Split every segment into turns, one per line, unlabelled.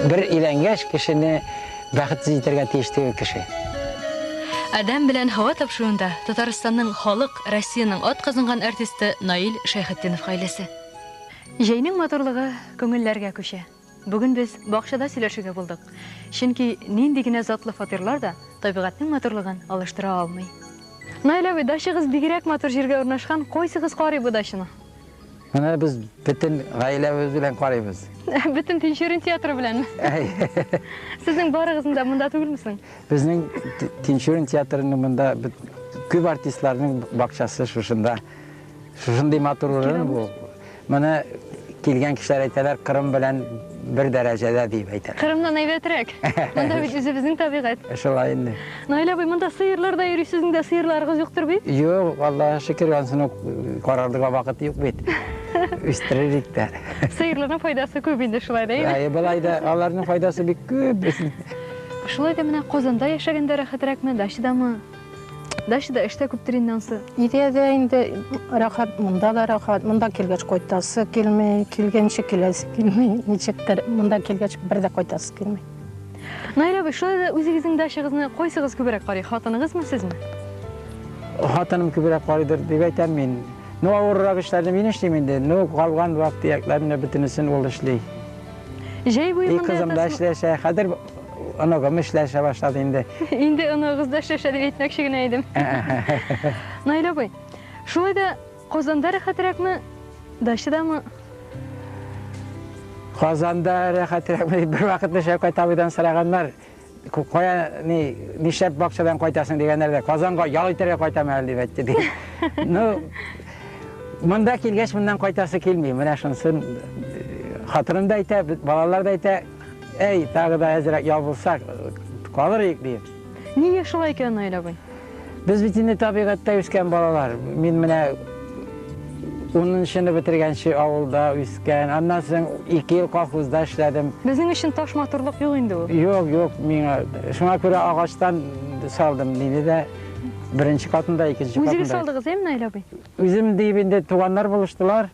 Бер иләнгәш кешене бәхетсез итәргә тиеш түгел кеше.
Адәм белән һава тапшыруында Татарстанның халык, Россиянең ат казынган артисты Наил Шәйхетдинов гаиләсе. Җәйнең матурлыгы күңелләргә күчә. Бүген без бакчада сөйләшергә булдык, чөнки нинди генә затлы фатирлар да табигатьнең матурлыгын алыштыра алмый. Наил абый, дачагыз бигрәк матур җиргә урнашкан, кайсыгыз карый бу дачаны? Менә без
бөтен гаиләбез белән карыйбыз. Бөтен Тинчурин
театры беләнме? Сезнең барыгызның да монда түгелме соң? Безнең
Тинчурин театрының монда күп артистларның бакчасы шушында. Шушындый матур урын бу. Моны килгән кешеләр әйтәләр, Кырым белән бер дәрәҗәдә дип әйтәләр. Кырымнан әйбәтрәк.
Монда бит үзебезнең табигать. Шулай инде.
Наил абый, монда
сыерлар да йөри, сезнең дә сыерларыгыз юктыр бит? Юк, Аллага шөкер,
ансын ук карарлыга вакыт юк бит. Үстерерик тә. Сыерларның файдасы
күп инде шулай да. Әйе, былай да аларның
файдасы бик күп. Шулай
да менә Казанда яшәгәндә рәхәтрәкме, дачадамы? Дачада эш тә күптер инде ансы. Өйдә дә инде
рәхәт, монда да рәхәт. Монда килгәч кайтасы килми, килгәнче киләсе килми. Ничектер, монда килгәч бер дә кайтасы килми. Наил
абый, шулай да үзегезнең дачагызны кайсыгыз күбрәк карый, хатыныгызмы, сезме?
Хатыным күбрәк карыйдыр дип әйтәм мин. Ну, авыррак эшләрне мин эшлим инде. Ну, калган вак-төякләрне бөтенесен ул эшли. Җәй
буе монда ятасызмы? И кызым да эшләшә. Хәзер
оногым эшләшә башлады инде. Инде оныгыгыз да
эшләшә дип әйтмәкче генә идем. Наил абый, шулай да Казанда рәхәтрәкме, дачадамы?
Казанда рәхәтрәкме дип бервакытны Шәүкәт абыйдан сораганнар. Кая ни нишләп бакчадан кайтасың дигәннәрдә, Казанга ял итәргә кайтам әле дип әйтте ди. Ну, монда килгәч моннан кайтасы килми. Менә шунысын хатыным да әйтә, балалар да әйтә. Әй, тагы да әзрәк ябылсак, калыр идек, ди. Нигә шулай
икән, Наил абый? Без бит инде
табигатьтә үскән балалар. Мин менә унынчыны бетергәнче авылда үскән. Аннан соң ике ел колхозда эшләдем. Безнең өчен таш
матурлык юк инде ул. Юк, юк, миңа
шуңа күрә агачтан салдым, диде дә беренче катында, икенче катында. Үзегез салдыгыз, әйме, Наил абый?
Үзем диеп инде
туганнар булыштылар.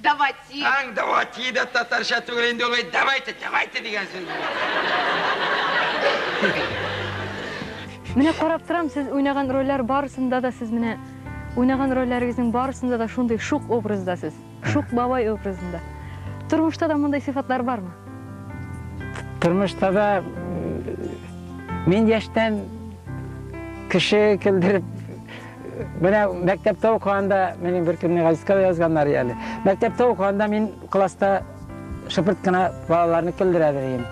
Давати. Аң давати
да татарча түгел инде ул. Давайте, давайте дигән сүз.
Менә карап торам, сез уйнаган рольләр барысында да сез менә уйнаган рольләрегезнең барысында да шундый шук образда сез. Шук бабай образында. Тормышта да мондый сыйфатлар бармы?
Тормышта да мин яшьтән кеше килдереп Менә мәктәптә укыганда, минем бер көнне газетка язганнар әле. Мәктәптә укыганда мин класста шыпырт кына балаларны көлдерә идем.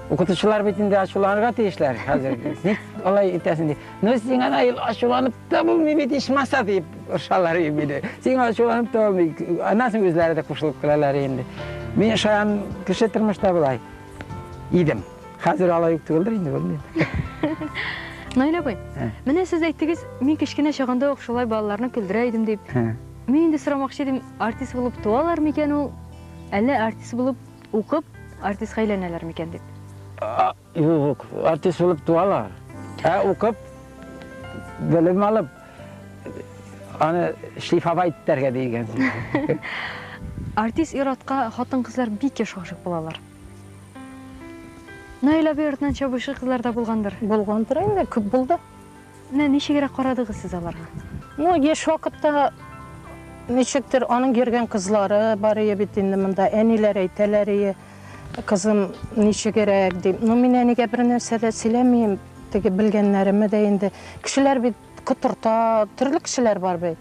Укытучылар бит инде ачуланырга тиешләр хәзер. Ник алай итәсең дип. Ну син ана ел ачуланып та булмый бит ичмаса дип ошалар инде. Син ачуланып та булмый. Аннан үзләре дә кушылып калалар инде. Мин шаян кеше тормышта булай идем. Хәзер алай ук түгелдер инде, белмим.
Наил абый, менә сез әйттегез, мин кечкенә чагында ук шулай балаларны көлдерә идем дип. Мин инде сорамакчы идем, артист булып туалар микән ул? Әллә артист булып укып, артистка әйләнәләр микән дип? Юк,
артист булып туалар. Ә укып, белем алып, аны шлифовать итәргә дигән.
Артист иратка хатын-кызлар бик еш гашык булалар. Наил абый артынан чабучы кызлар да булгандыр? Булгандыр инде, күп
булды. Менә ничегрәк
карадыгыз сез аларга? Ну, еш
вакытта ничектер аның йөргән кызлары бар ие бит инде монда. Әниләр әйтәләр ие, кызым ничегрәк дип. Ну, мин әнигә бер нәрсә дә сөйләмим, теге белгәннәремә дә инде. Кешеләр бит Котырта, төрле кешеләр бар бит.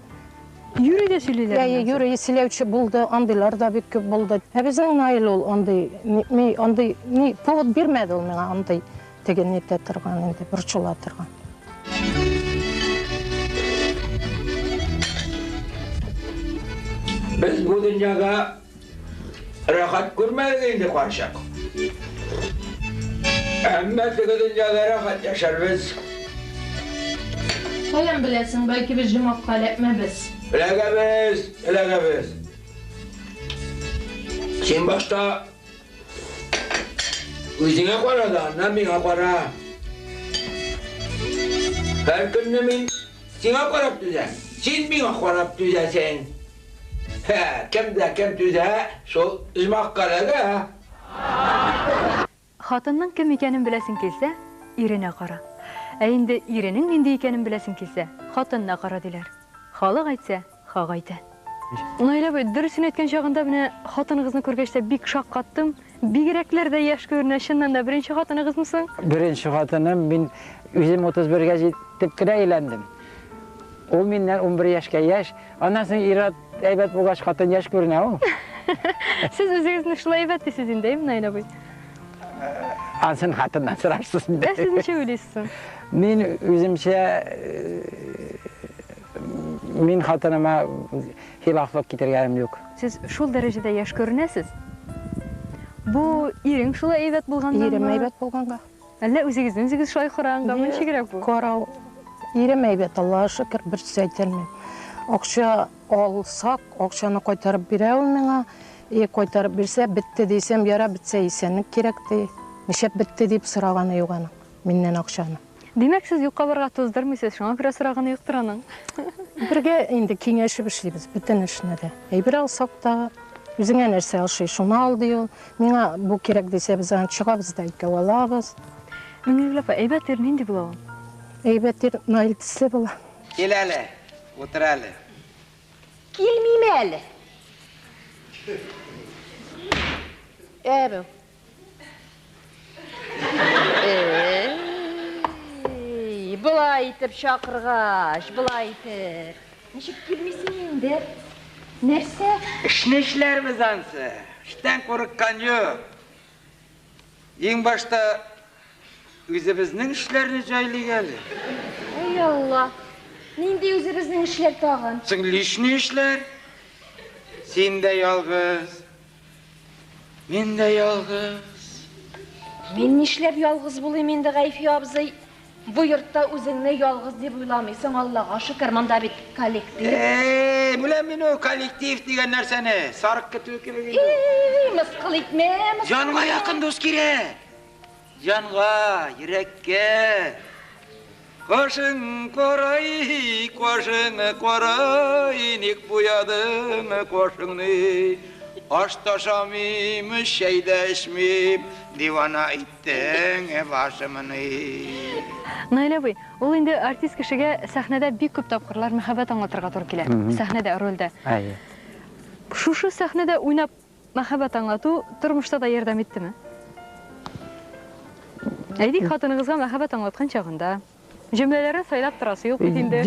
Юрий дә
сөйлиләр. Йә, йә, юрий сөйләүче
булды, андыйлар да бик күп булды. Ә безнең Наил ул андый, ми андый, ни повод бирмәде ул миңа андый теге нитә торган инде, борчыла торган.
Без бу дөньяга Рәхәт күрмәдек инде карчык. Әмма теге дөньяда рәхәт яшәрбез.
Каян беләсең, бәлки без җомакка эләкмәбез.
Эләгәбез, эләгәбез. Син башта үзеңә кара да, аннан миңа кара. Һәр көнне мин сиңа карап түзәм, син миңа карап түзәсең. Һә, кем дә кем түзә шул оҗмахка ләгә.
Хатынның кем икәнен беләсең килсә, иренә кара. Ә инде иренең нинди икәнен беләсең килсә, хатынына кара, диләр. Халык әйтсә, хак әйтә. Наил абый, дөресен әйткән чагында менә хатыныгызны күргәч тә бик шаккаттым. Бигрәкләр дә яшь күренә, чыннан да, беренче хатыныгызмы соң? Беренче хатыным,
мин үзем 31 гә җитеп кенә өйләндем. Ул миннән 11 яшькә яшь. Аннан соң ир-ат әйбәт булгач, хатын яшь күренә ул. Сез
үзегезне шулай әйбәт дисез инде, әйеме, Наил абый?
Ансын хатыннан сорарсыз инде. Ә сез ничек уйлыйсыз
соң? Мин
үземчә, мин хатыныма хилафлык китергәнем юк. Сез шул дәрәҗәдә
яшь күренәсез. Бу ирең шулай әйбәт булганнанмы? Ирем әйбәт булганга.
Әллә үзегезне
үзегез шулай караганганмы? Ничегрәк бу? Карау.
Ирем әйбәт, Аллага шөкер, бер сүз әйтә алмыйм. Акча алсак, акчаны кайтарып бирә ул миңа. И, кайтарып бирсә, бетте дисәм, ярар, бетсә, исәнлек кирәк, ди. Нишләп бетте дип сораганы юк аның миннән акчаны. Димәк, сез юкка
барырга туздырмыйсыз, шуңа күрә сораганы юктыр аның. Бергә
инде киңәшеп эшлибез бөтен эшне дә. Әйбер алсак та, үзеңә нәрсә ошый, шуны ал, ди ул. Миңа бу кирәк дисә, без аны чыгабыз да икәү алабыз. Миңнегөл апа,
әйбәт ир нинди була ул? Әйбәт ир
Наил төсле була. Кил әле,
утыр әле.
Килмим әле. Ә бу. Былай итеп чакыргач, былай итеп. Ничек килмисең инде? Нәрсә? Эшне
эшләрбез ансы. Эштән курыккан юк. Иң башта үзебезнең эшләрне җайлыйк әле. Ай
Алла. Нинди үзебезнең эшләр тагын? Соң лишний
эшләр. Син дә ялгыз. Мин дә ялгыз. Мин
нишләп ялгыз булыйм инде, Гайфи абзый? Бу йортта үзеңне ялгыз дип уйламыйсың, Аллага шөкер, монда бит коллектив. Эй, беләм
мин ул коллектив дигән нәрсәне. Сарык көтүе кебек инде. Эй, мыскыл
итмә, мыскыл. Җанга якын дус
кирәк. Җанга, йөрәккә кашың карай, кашың карай, ник буядың кашыңны? Аш та ашамыйм, чәй дә эчмим, дивана иттең башымны.
Наилә абый, ул инде артист кешегә сәхнәдә бик күп тапкырлар мәхәббәт аңлатырга туры килә, сәхнәдә, рольдә. Әйе.
Шушы
сәхнәдә уйнап Мәхәббәт аңлату тормышта да ярдәм иттеме? Әйтик, хатыныгызга мәхәббәт аңлаткан чагында, җөмләләрне сайлап торасы юк бит инде,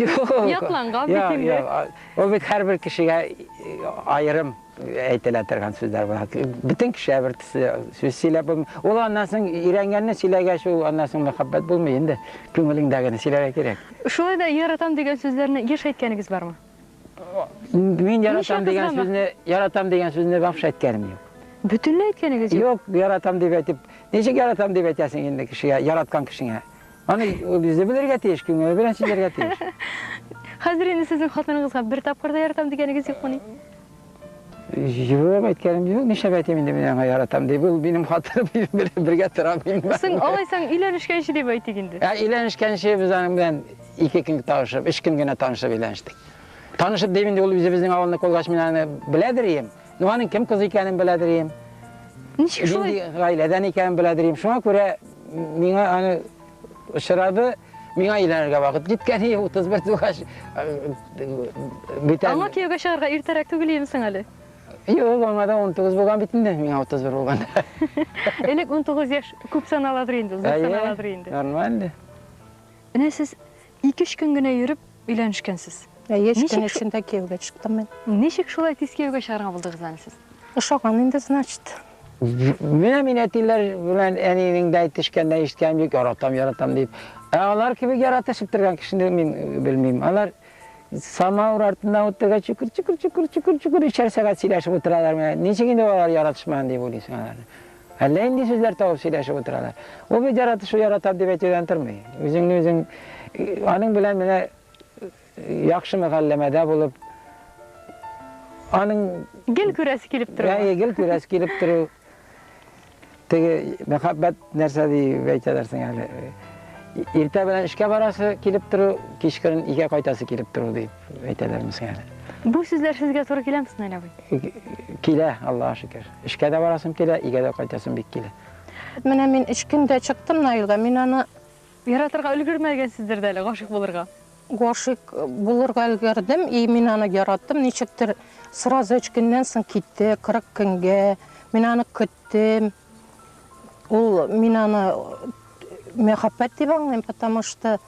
ятланган бит инде. Юк, юк, ул бит һәрбер
кешегә аерым әйтелә торган сүзләр була. Бөтен кешегә бер төсле сүз сөйләп булмый. Ул аннан соң өйрәнгәнне сөйләгәч, ул аннан соң мәхәббәт булмый инде. Күңелеңдәгене сөйләргә кирәк. Шулай да яратам
дигән сүзләрне еш әйткәнегез бармы?
Мин яратам дигән сүзне, яратам дигән сүзне вообще әйткәнем юк. Бөтенләй әйткәнегез
юк? Юк, яратам дип әйтеп.
Ничек яратам дип әйтәсең инде кешегә, яраткан кешеңә? Аны үзе белергә тиеш, күңеле белән сөйләргә тиеш. Хәзер
инде сезнең хатыныгызга бер тапкыр да яратам дигәнегез юкмыни?
Юк, әйткәнем юк, нишләп әйтим инде мин аңа яратам дип. Ул минем хатыным белән бергә тора мин. Соң алайсаң
өйләнешкәнче дип әйтик инде. Ә өйләнешкәнче без
аның белән ике көн танышып, өч көн генә танышып өйләнештек. Танышып дим инде ул үзебезнең авылны колгач мин аны беләдер идем. Ну аның кем кыз икәнен беләдер идем. Ничек
шулай? Гаиләдән икәнен беләдер
идем. Шуңа күрә миңа аны очрады. Миңа өйләнергә вакыт җиткән иде, 31 тугач. Бүтән. Аңа кияүгә чыгарга иртәрәк
түгел инсең әле. Юк, аңа
да 19 булган бит инде, миңа 31 булган. Элек
19 яшь күп саналадыр инде, зур саналадыр инде. Нормально.
Менә
сез Ике-өч көн генә йөреп өйләнешкәнсез. Әйе, өч көн эчендә
кияүгә чыктым мин. Ничек шулай тиз кияүгә
чыгарга булдыгыз әле сез? Ошаган инде,
значит. Менә
мин әтиләр белән әнинең дә әйтешкәннән ишеткәнем юк, яратам, яратам дип. Ә алар кебек яратышып торган кешене мин белмим. Алар самауыр артында утырга чукыр, чукыр, чукыр, чукыр, чукыр, өчәр сәгать сөйләшеп утыралар. Менә ничек инде алар яратышмаган дип уйлыйсың аларны. Әллә нинди сүзләр табып сөйләшеп утыралар. Ул бит яратышу яратам дип әйтүдән тормый. Үзеңне үзең аның белән менә яхшы мөгалләмәдә булып аның гел күрәсе
килеп тору. Әйе, гел күрәсе килеп
тору. Теге мәхәббәт нәрсә дип әйтәләрсең әле. Иртә белән эшкә барасы килеп тору, кичкырын өйгә кайтасы килеп тору дип. әйтәләр безгә әле. Бу сүзләр
сезгә туры киләме, Снель абый? Килә, Аллаһ
шөкер. Эшкә дә барасым килә, игә дә кайтасым бик килә. Менә мин
өч көндә чыктым Наилга, мин аны яратырга
өлгермәгәнсездер дә әле, гашык булырга. Гашык
булырга өлгердем, и мин аны яраттым, ничектер сразу өч көннән соң китте, 40 көнгә. Мин аны көттем. Ул мин аны мәхәббәт дип аңлыйм, потому что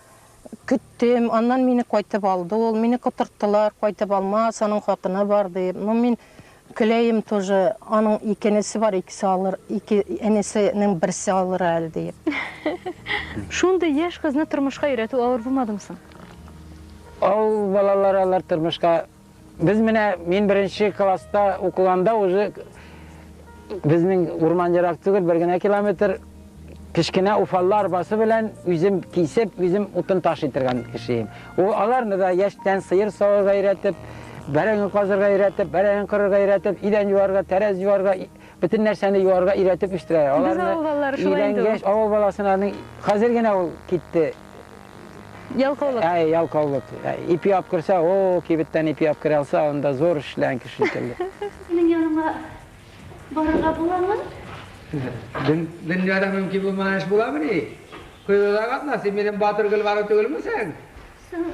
Көттем, аннан мине кайтып алды ул, мине котырттылар, кайтып алмас, аның хатыны бар дип. Ну, мин көләем тоже, аның ике энесе бар, икесе алыр, ике энесенең берсе алыр әле дип.
Шундый яшь кызны тормышка өйрәтү авыр булмадымы соң?
Авыл балалары алар тормышка Без менә мин беренче класста укыганда уже безнең урман ерак түгел, бер генә километр кечкенә уфаллы арбасы белән үзем кисеп, үзем утын таш итергән кешеем. Ул аларны да яшьтән сыер савырга өйрәтеп, бәрәңге казырга өйрәтеп, бәрәңге кырырга өйрәтеп, идән юарга, тәрәз юарга, бөтен нәрсәне юарга өйрәтеп үстерә. Аларны Без авыл балалары шулай инде. Авыл баласының хәзер генә ул китте.
Ялкаулык. Әй, ялкаулык.
Ипи алып керсә, о, кибеттән ипи алып керә алса, анда зур эшләгән кеше шикелле. Минем яныма
барырга буламы? Дөньяда
мөмкин булмаган эш буламыни? Коелуда катна, син минем батыр Гөлбану түгелмесең? Соң,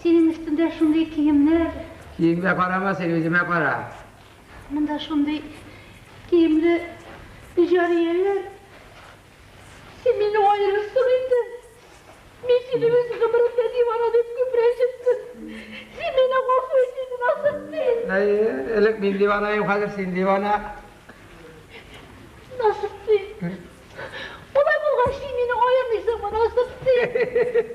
синең
өстеңдә шундый киемнәр. Киемгә карама,
син үземә кара. Монда
шундый киемле җарияләр. Син мине аерырсың инде. Мин сине үз гомеремдә дивана дип күп рәнҗеттем. Син мине гафу ит инде, Насыйпкин! Әй, элек мин дивана идем,
хәзер син дивана.
Насыйпкин! Алай булгач, син мине аермыйсыңмы, Насыйпкин?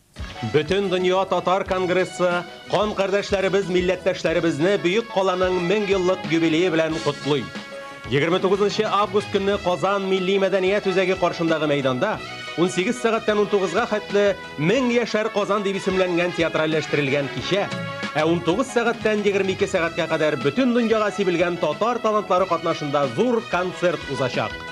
Бөтендөнья татар конгрессы кан кардәшләребез милләттәшләребезне Бөек Каланың 1000 еллык юбилее белән котлый. 29 август көнне Казан милли мәдәният үзәге каршындагы мәйданда 18 сәгатьтән 19 га хәтле 1000 яшәр Казан дип исемләнгән театральләштерелгән кичә, ә 19 сәгатьтән 22 сәгатькә кадәр бөтен дөньяга сибелгән татар талантлары катнашында зур концерт узачак.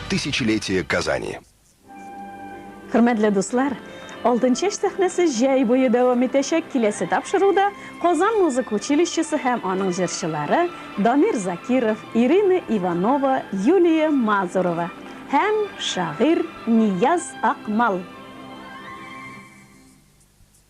Тысячелетие Казани.
Хөрмәтле дуслар, Алтынчәч сәхнәсе җәй буе дәвам итәчәк, киләсе тапшыруда Казан музыка училищесы һәм аның җырчылары Дамир Закиров, Ирина Иванова, Юлия Мазурова һәм шагыйрь Нияз Акмал.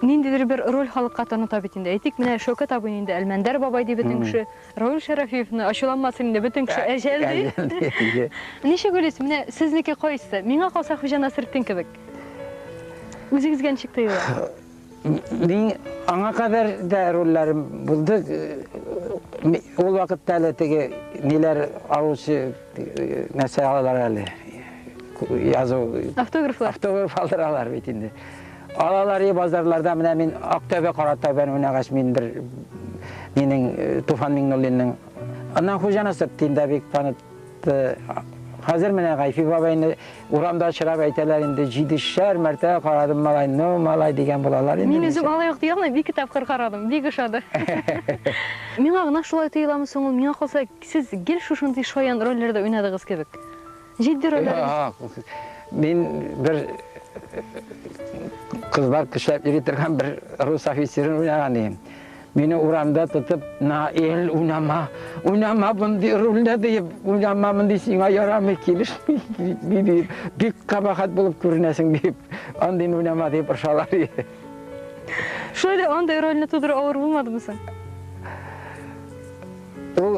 Ниндидер бер роль халыкка таныта бит инде. Әйтик, менә Шәүкәт абыйны инде Әлмәндәр бабай ди бөтен кеше. Равил Шәрәфиевны, ачуланмасын инде, бөтен кеше Әҗәл ди. Әҗәл ди, әйе. Ничек уйлыйсыз, менә сезнеке кайсы? Миңа калса, Хуҗа Насретдин кебек. Үзегезгә ничек тоела? Мин
аңа кадәр дә рольләрем булды. Ул вакытта әле теге ниләр алучы нәрсә алалар әле. Язу. Автографлар. Автограф алдыралар бит инде. Алалари базарларда менә мин Актәбе Каратау бәнүнәгач мин бер минең Туфан Миңнуллинның аннан хуҗаны сыптыйм да бик танып Хәзер менә Гайфи бабайны урамда очрап әйтәләр инде, җидешәр мәртә карадым малай, ну малай дигән булалар инде. Мин үзем алай ук ди алмыйм,
ике тапкыр карадым, бик ошады. Миңа гына шулай тоеламы соң ул, миңа калса, сез гел шушындый шаян рольләрдә уйнадыгыз кебек. Җитди рольләрегез? Юк, мин
бер кызлар көчләп йөри торган бер рус офицерын уйнаган идем. Мине урамда тотып, Наил, уйнама, уйнама мондый рольне диеп, уйнама мондый сиңа ярамый, килешми диеп, бик кабахат булып күренәсең диеп, андый уйнама диеп ыршалар иде.
Шулай да андый рольне тудыру авыр булмадымы соң?
Ул,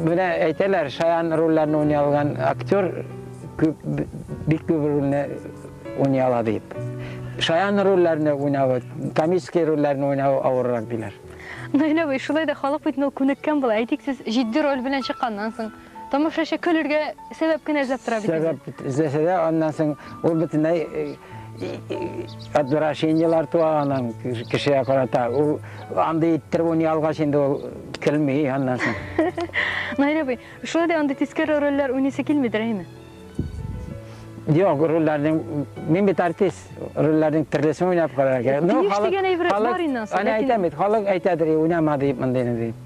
менә әйтәләр, шаян рольләрне уйный алган актер күп, бик күп рольне уйный ала дип. Шаян рольләрне уйнавы, комический рольләрне уйнавы авыррак диләр. Наил абый,
шулай да халык бит ул күнеккән була. Әйтик, сез җитди роль белән чыкканнан соң, тамашачы көлергә сәбәп кенә эзләп тора бит. Сәбәп эзләсә дә,
аннан соң ул бөтенләй отвращениеләр туа аның кешегә карата. Ул Андый иттереп уйный алгач инде ул көлми аннан соң. Найра абый,
шулай да андый тискәре рольләр уйныйсы килмидер, әйме?
Юк, рольләрнең мин бит артист, рольләрнең төрлесен уйнап карарга. Ну, халык дигән әйбер бар
инде. Аны әйтәм бит, халык
әйтәдер, уйнама дип мондыйны дип.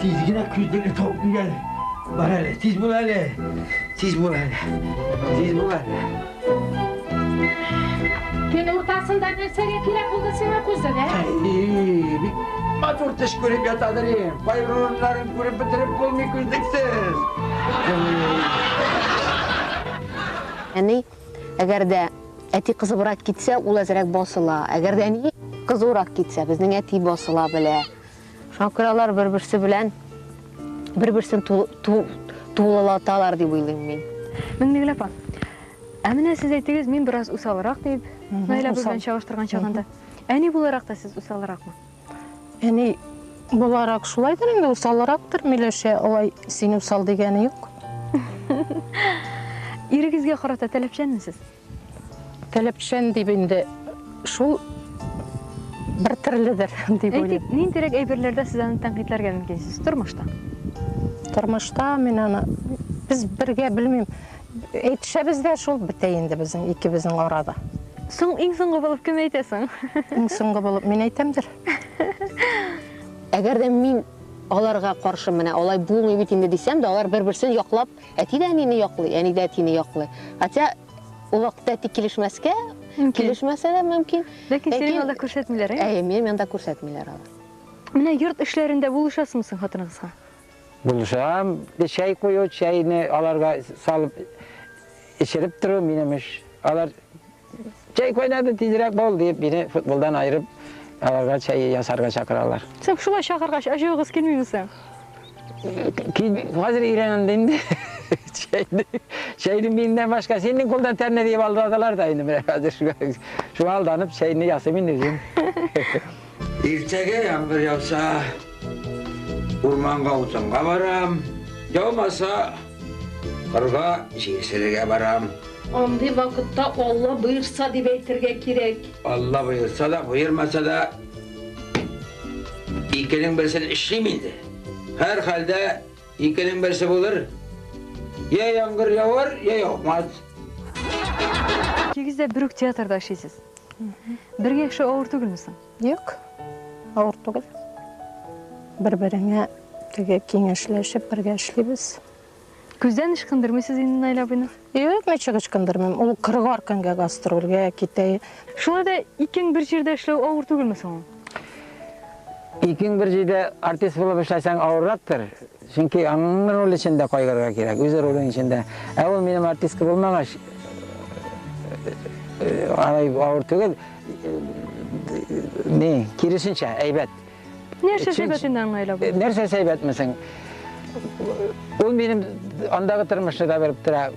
Тиз генә күздән табып килгән. Бар әле, тиз бул әле. Тиз бул әле. Тиз бул әле.
Төн уртасында нәрсәгә кирәк булды сиңа күзлек, ә? Әй, бик
матур төш күреп ятадыр ем. Байруларын күреп бетереп булмый күздексез.
Әни, әгәр дә әти кызыбрак китсә, ул әзрәк басыла. Әгәр дә әни кызурак китсә, безнең әти басыла белә. Шуңа күрә алар бер-берсе белән бер-берсен тулылаталар дип уйлыйм мин. Миңнегөл апа,
ә менә сез әйтегез, мин бераз усалрак дип, Наилә белән чагыштырган чагында. Әни буларак та сез усалракмы? Әни
буларак шулайдыр инде, усалрактыр, Миләшә, алай син усал дигәне юк.
Ирегезгә карата таләпчәнме сез?
Таләпчән дип инде шул бер төрледер дип уйлыйм. Әйтик, ниндирәк
әйберләрдә сез аны тәнкыйтьләргә мөмкинсез тормышта? Тормышта
мин аны без бергә белмим. Әйтешәбез дә шул бетә инде безнең икебезнең арада. Соң иң соңгы
булып кем әйтә соң? Иң соңгы булып
мин әйтәмдер.
Әгәр дә мин аларга каршы менә алай булмый бит инде дисәм дә, алар бер-берсен яклап Әти дә әнине яклый, әни дә әтине яклый. Хотя ул вакытта әти килешмәскә, килешмәсә дә мөмкин. Ләкин синең анда
күрсәтмиләр, ә? Әйе, минем анда
күрсәтмиләр алар. Менә йорт
эшләрендә булышасыңмы соң хатыныгызга? Булышам.
Чәй кую, чәйне аларга салып эчереп тору минем эш. Алар Чәй кайнады, тизрәк бул, дип, мине футболдан аерып, аларга чәй ясарга чакыралар. Сез шулай чакыргач,
ачуыгыз килмиме соң? Хәзер
өйрәнәм дә инде. Чәйне, чәйне миннән башка синең кулдан тәмле дип алдадылар да инде менә хәзер. Шуңа алданып, чәйне ясыйм инде үзем.
Иртәгә яңгыр яуса, урманга утынга барам, яумаса, кырга җир сөрергә барам. Андый вакытта
Алла боерса дип әйтергә кирәк. Алла боерса
да, боермаса да, икенең берсен эшлим инде. Һәрхәлдә икенең берсе булыр. Я яңгыр явар, я яумас.
Икегез дә бер үк театрда эшлисез. Бергә яшәү авыр түгелме соң? Юк,
авыр түгел. Бер-береңә теге киңәшләшеп бергә эшлибез. Күздән
ычкындырмыйсыз инде Наил абыйны? Юк, ничек
ычкындырмыйм. Ул кырыгар көнгә гастрольгә китә. Шулай да
икең бер җирдә эшләү авыр түгелме соң?
Икең бер җирдә артист булып эшләсәң авыррактыр. Чөнки аның роле өчен дә кайгырырга кирәк, үз ролең өчен дә. Ә ул минем артистка булмагач, алай авыр түгел. Ни, киресенчә, әйбәт. Нәрсә сәбәт
инде аңа әйләп? Нәрсә сәбәтмесең?
Ул минем андагы тормышны да белеп тора.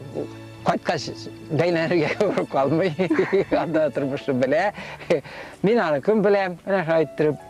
Кайткач бәйләнергә калмый. Анда тормышны белә. Мин аны кем беләм? Менә шулай иттереп.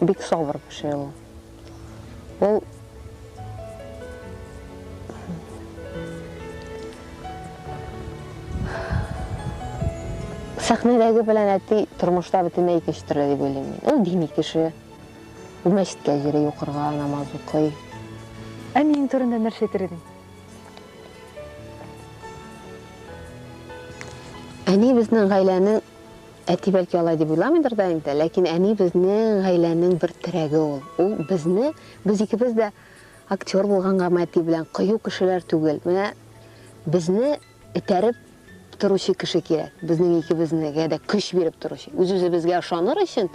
бик сабыр кеше ул. Ул сәхнәдәге белән әти тормышта бөтенләй икенче төрле дип уйлыйм мин. Ул дини кеше. Ул мәчеткә йөри, укырга намаз укый. Әниең
турында нәрсә әйтер идең?
Әни безнең гаиләнең Әти бәлки алай дип уйламыйдыр да инде, ләкин әни безнең гаиләнең бер терәге ул. Ул безне, без икебез дә актер булгангамы әти белән, кыю кешеләр түгел. Менә безне этәреп торучы кеше кирәк, безнең икебезнегә дә көч биреп торучы. Үз-үзебезгә ышаныр өчен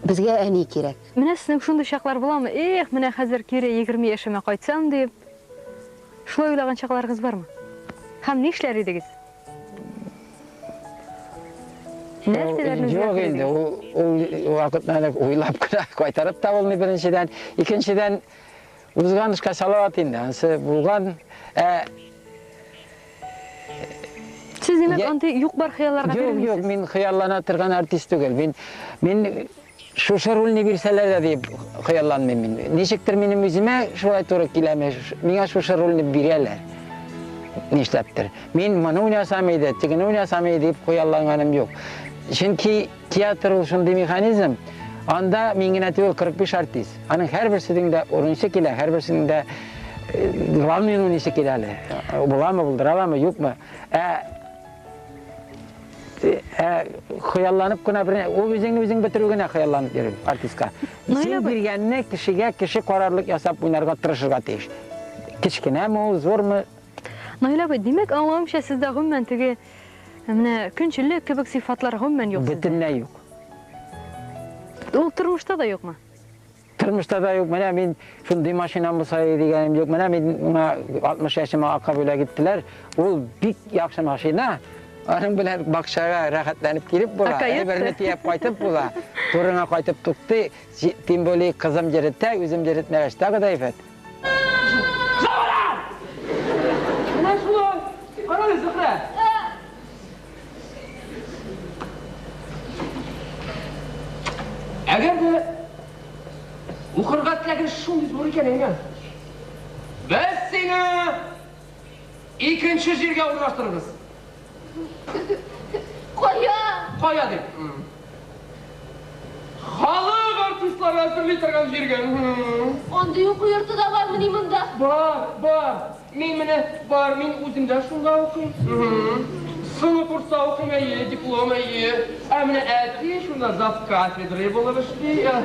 безгә әни кирәк. Менә сезнең шундый
чаклар буламы, эх, менә хәзер кире егерме яшемә кайтсам дип, шулай уйлаган чакларыгыз бармы? Һәм нишләр идегез?
Нәрсәләрне Юк инде, ул вакытны әле уйлап кына кайтарып та булмый беренчедән. Икенчедән, узган эшкә салават инде, ансы булган. Ә
Сез димәк, андый юк-бар хыялларга бирелмисез? Юк, юк, мин хыяллана
торган артист түгел. Мин мин Шушы рульне бирсәләр дә дип хыялланмыйм мин. Ничектер минем үземә шулай туры киләме, миңа шушы рульне бирәләр. Нишләптер. Мин моны уйнасам иде, тегене уйнасам иде дип хыялланганым юк. Чөнки театр ул шундый механизм, анда мин генә түгел 45 артист. Аның һәрберсенең дә урынчы килә, һәрберсенең дә главный уйныйсы килә әле. Буламы, булдыра аламы, юкмы? Ә хыялланып кына бер ул үзеңне үзең бетерү генә хыялланып йөрү артистка исем биргәнне кешегә кеше карарлык ясап уйнарга тырышырга тиеш кечкенәме ул зурмы наил абый
димәк аңлавымча сездә гомумән теге менә көнчеллек кебек сыйфатлар гомумән юк бөтенләй юк ул тормышта да юкмы Тормышта да
юк, менә мин шундый машинам булса иде дигәнем юк. Менә мин миңа 60 яшемә ака бүләк иттеләр. Ул бик яхшы машина. Аның белән бакчага рәхәтләнеп килеп була, әйберне төяп кайтып була. Турыңа кайтып туктый, тем более кызым йөретә, үзем йөретмәгәч тагы да әйбәт.
Әгәр дә укырга теләген шундый зур икән әйе. Без сине икенче җиргә урнаштырырбыз. Кая? Кая дип. Халык артистлары әзерли торган җиргә. Андый
уку йорты да бармыни монда? Бар, бар.
Мин менә бар, мин үзем дә шунда укыйм. Соңгы курста укыйм, әйе, диплом, әйе. Ә менә әти шунда зав. Кафедрой булып эшли. Зав.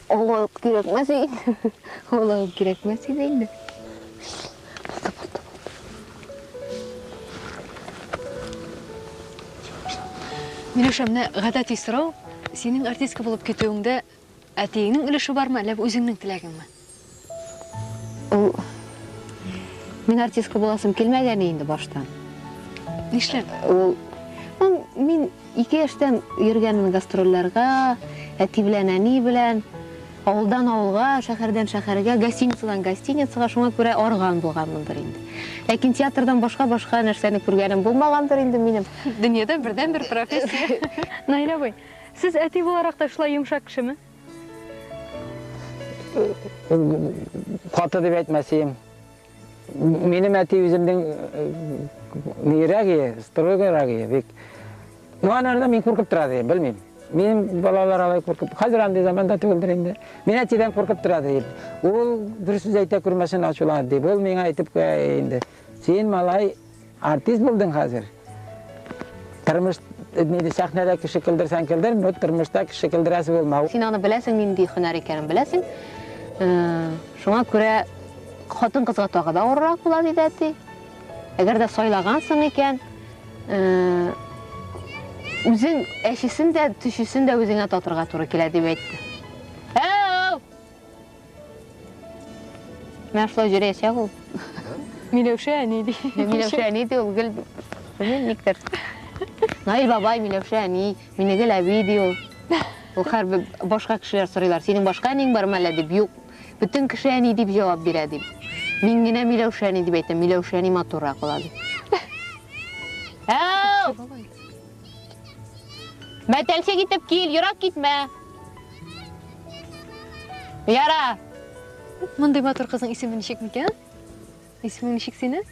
Олы үк кирәкмәс инде. Олы үк кирәкмәс иде инде.
Миләүшә, менә гадәти сорау, синең артистка булып китүеңдә әтиеңнең өлеше бармы, әллә бу үзеңнең теләгеңме? Ул
Мин артистка буласым килмәгәне инде баштан. Нишләп?
Ул
ну, мин ике яшьтән йөргәнмен гастрольләргә, әти белән, әни белән, авылдан авылга, шәһәрдән шәһәргә, гостиницадан гостиницага, шуңа күрә арган булганмындыр инде. Ләкин театрдан башка-башка нәрсәне күргәнем булмагандыр инде минем. Дөньяда бердән-бер
профессия. Наилә абый, сез әти буларак та шулай йомшак кешеме?
каты дип әйтмәсем минем әти үземнең нирәк ие строгойрак ие бик ну анарда мин куркып тора ди белмим минем балалар алай куркып хәзер андый заманда түгелдер инде мин әтидән куркып тора ди ул дөрес сүз әйтә күрмәсен ачуланып ди ул миңа әйтеп куя инде син малай Артист булдың хәзер. Тормыш нидә сәхнәдә кеше килдерсәң килдер, но тормышта кеше килдерәсе булмау. Син аны беләсең, нинди
һөнәр икәнен беләсең. Э, шуңа күрә хатын кызга тагы да авыррак була диде әти. Әгәр дә сайлагансың икән, э, үзең әчесен дә, төчесен дә үзеңә татырга туры килә дип әйтте. Менә шулай җөрәячәк ул. Миләүшә
әни ди. Миләүшә әни ди ул гел
белмим никтер. Наил бабай, Миләүшә әни, Минегел әби ди ул. Ул хәрбер башка кешеләр сорыйлар, синең башка әниң бармы әллә дип, юк. Бөтен кеше әни дип җавап бирә дип. Мин генә Миләүшә әни дип әйтәм, Миләүшә әни матуррак була дип. Әу! Мәтәлчек итеп кил, ерак китмә. Яра.
Мондый матур кызның исеме ничек микән? Исемең ничек синең?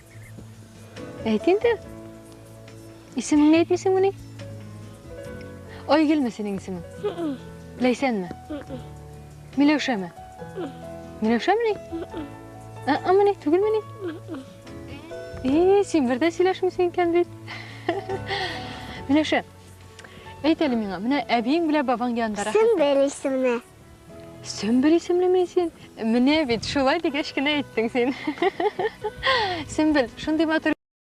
Әйт инде. Исемеңне әйтмисеңмени? Айгөлме синең исемең? Ләйсәнме? Миләүшәме? Миләүшәмени? Ә-ә, мени, түгелмени? Эй, син бер дә сөйләшмисең икән бит. Миләүшә, әйт әле миңа, менә әбиең белән бабаң янында рәхәт. Сөмбел исемле.
Сөмбел
исемлеме син? Менә бит, шулай дигәч кенә әйттең син. Сөмбел, шундый матур